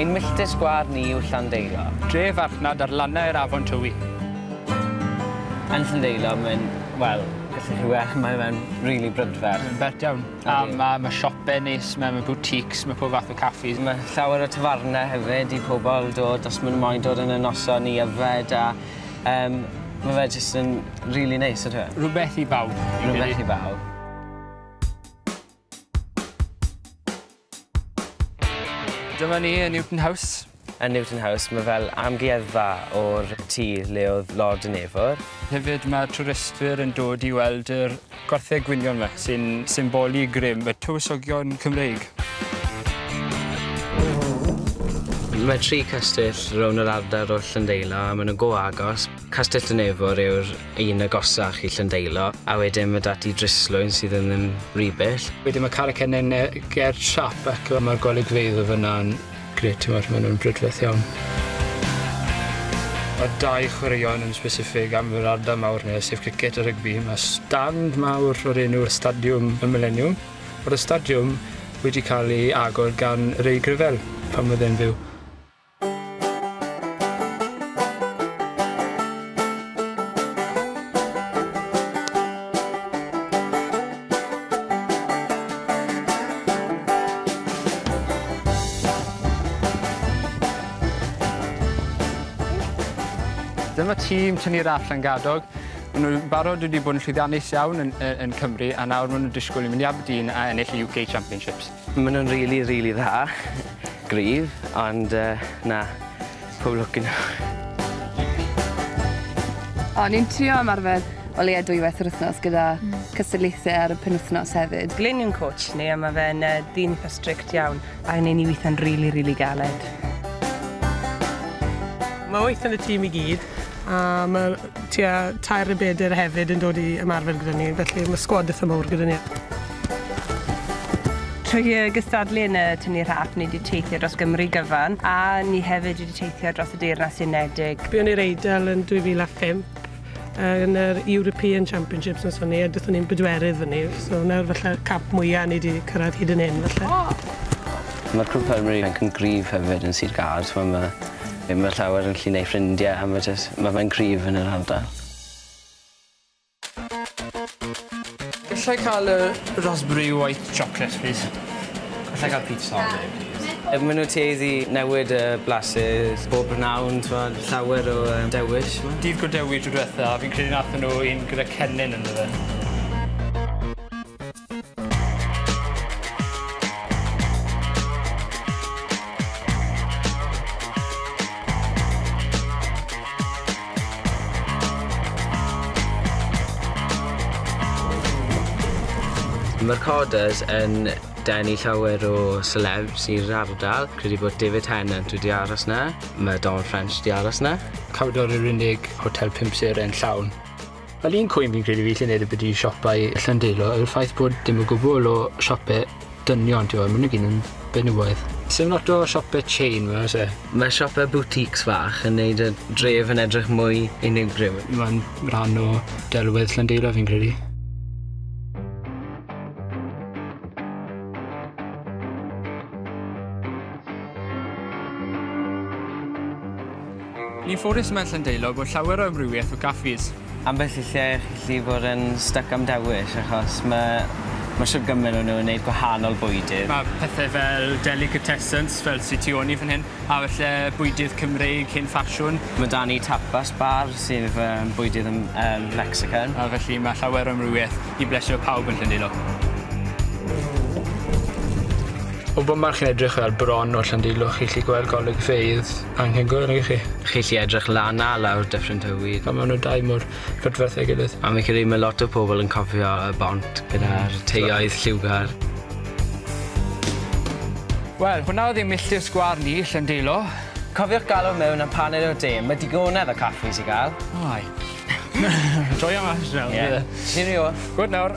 Ein milltir sgwâr ni yw Llandeilo. Dre farchnad ar lannau'r afon Tywi. Yn Llandeilo mae'n, wel, gallwch chi weld, mae fe'n rili brydferth. Mae'n bert iawn. A ma' ma' siope neis 'ma ma' boutiques ma' pob fath o caffis. Ma' llawer o tafarne hefyd i pobol dod os ma' nw moyn dod yn y noson i yfed a yym ma' fe jyst yn rili neis on'd yw e? Rwbeth i bawb fi'n credu. Rwbeth i bawb. Dyma ni yn Newton House. Yn Newton House, mae fel amgueddfa o'r tŷ le oedd Lord yn Efwr. Hefyd mae twristwyr yn dod i weld yr gwartheg gwynion ma sy'n symbolu grym y tywysogion Cymreig. Mae tri castell rownd yr ardal o Llyndeilo a maen nhw'n go agos. Castell Dyn Efwr yw'r un agosach i Llyndeilo a wedyn mae da ti Dryslwyn sydd yn yn Rybyll. Wedyn mae Carreg Cennen ger Siap ac mae'r golygfeydd o fyna'n Grêt, ti'n gwybod, maen nhw'n brydferth iawn. Mae dau chwaraeon yn specific am yr ardal mawr neu, sef cricet a rygbi. Mae stand mawr o'r enw Stadiwm y Mileniwm. Mae'r ystadiwm wedi cael ei agor gan Ray Gravell pan oedd e'n fyw. Dyma tîm tynnu'r all yn gadog. Maen nhw'n barod wedi bod yn llwyddiannus iawn yn, yn Cymru a nawr maen nhw'n disgwyl i mynd i Aberdeen a ennill y UK Championships. Maen nhw'n rili, rili dda. Gryf, ond yy, na, pob lwc i nhw. O'n i'n trio ymarfer o leia dwywaith yr wythnos gyda cystadlaethau ar y penwythnos hefyd. Glyn yw'n coach ni a mae fe'n yy, ddyn eitha strict iawn. A ni'n ni weithio'n rili, rili galed. Mae wyth yn y tîm i gyd a mae Tua tair neu bedair hefyd yn dod i ymarfer gyda ni, felly mae sgwad eitha mawr gyda ni. Trwy y gystadlu yn y tynnu rhaff, ni wedi teithio dros Gymru gyfan, a ni hefyd wedi teithio dros y Deyrnas Unedig. Buon ni'r Eidal yn 2005 yn yr European Championships noson ni, a dethon ni'n bedwerydd fyny, so hwnna yw'r falle camp mwya' ni 'di cyrraedd hyd yn hyn falle. Ma'r Cwm Penmynydd yn cwm gryf hefyd yn Sir Gâr, so ma' Ddim yn llawer yn gallu neud ffrindie a ma' jys ma' fe'n cryf yn yr ardal. Gallai ca'l y raspberry white chocolate plîs? Gallai ca'l pizza all day plîs? Ma' nw tueddu newid y blasus bob prynawn t'mod llawer o yym dewish t'mo'? Dydd Godewi tro dwetha fi'n credu nathon nw un gyda cennin ynddo fe. Mae'r Corders yn denu llawer o celebs i'r ardal. Credu bod David Tennant wedi aros na. Mae Don French wedi aros na. Cawdor yw'r unig hotel pimp seren llawn. Yr un cwyn fi'n credu fi lle neud byti siopau Llandeilo yw'r ffaith bod dim o gwbwl o siope dynion t'mo' ma' nw gyd yn benywaidd. Sim lot o siope chain 'ma o's e? Mae siope boutiques fach yn neud y dref yn edrych mwy unigryw. Ma'n rhan o delwedd Llandeilo fi'n credu. Ni'n ffodus yma yn Llandeilo bod llawer o amrywiaeth o gaffis. Ambell i lle chi'n gallu bod yn styc am dewis achos ma' ma' shwd gymaint o nhw yn neud gwahanol bwydydd. Ma' pethe fel delicatessens fel sy tu ôl ni fan hyn a falle bwydydd Cymreig hen ffasiwn. Ma' 'da ni tapas bar sydd fy bwydydd yn yym Mexican. A felly ma' llawer o amrywiaeth i blesio pawb yn Llandeilo. O bump arall chi'n edrych fel bron o Llandeilo chi 'llu gweld golygfeydd anhygoel i chi. Chi 'llu edrych lan a lawr Dyffryn Tywi. A ma' nw dau mor prydferth a'i gilydd. A fi'n credu ma' lot o pobol yn cofio y bont gyda'r teuluoedd lliwgar. Wel, hwnna oedd ein milltir sgwâr ni, Llandeilo. Cofiwch galw mewn am paned o de, ma' digonedd o caffis i gael. O ai. Joio mas nawr. Ie. Cheerio. Good nawr.